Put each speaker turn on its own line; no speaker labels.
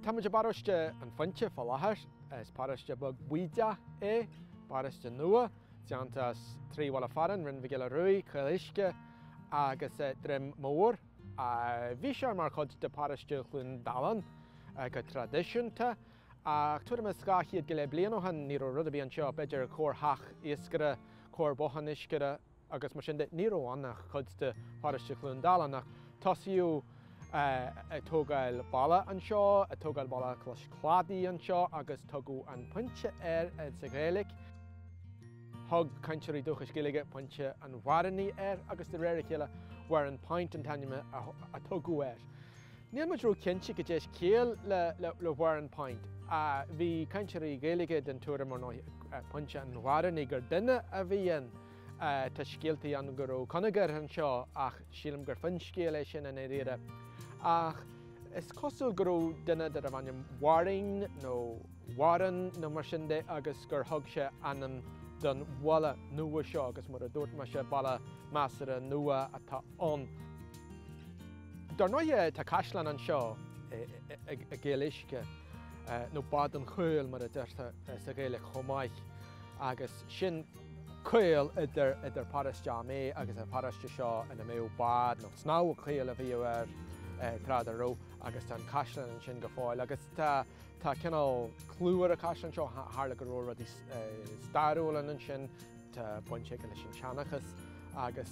Tá muid i bparóiste an Phointe fá láthair. Is paróiste beag baoideach é, paróiste nua, déanta as trí bhaile fearainn, Rinn Mhic Giolla Ruaidh, Caol Uisce agus eh, Droim Mór. Ah, bhí sé mar chuid de paróiste Chluain Dalláin eh, go traidisiúnta. Ach tuairim is dhá chéad go leith bliain ó shin, ní raibh rud ar bith anseo, b'fhéidir corrtheach iascaire, corrbhothán iascaire agus mar sin de. Ní raibh ann ach cuid de pharóiste Chluain Dalláin. Ach tosaíodh ag tógáil baile anseo, ag tógáil baile cois cladaigh anseo agus tugadh An Pointe air sa Ghaeilge. Thug cainteoirí dúchais Gaeilge Pointe an Bháirínigh air agus de réir a chéile Warrenpoint an t-ainm a tugadh air. Níl muid ró-chinnte cad é is ciall le Warrenpoint. Bhí cainteoirí Gaeilge den tuairim, ar ndóigh, Pointe an Bháirínigh gur duine a bhí ann. Tá scéaltaí ann go raibh coinigéar anseo ach sílim gur finscéal é sin i ndáiríre. Ach is cosúil go raibh duine darbh ainm Waring nó Warren nó mar sin de agus gur thug sé ainm don bhaile nua seo agus mar a dúirt mise, baile measartha nua atá ann. Dar ndóighe, tá caisleán anseo i gCaol Uisce, nó Bád an Chaoil mar a deirtear sa Ghaeilge chomh maith, agus sin caol idir Paráiste Ó Méith agus an paráiste seo ina mbeadh bád nó Snámh Caol a bhíodh air tráth dá raibh agus tá an caisleán ansin go fóill. Agus tá cineál clú ar an chaisleán seo, tharla go leor rudaí stairiúla ansin, tá baint aige leis an tseanchas agus,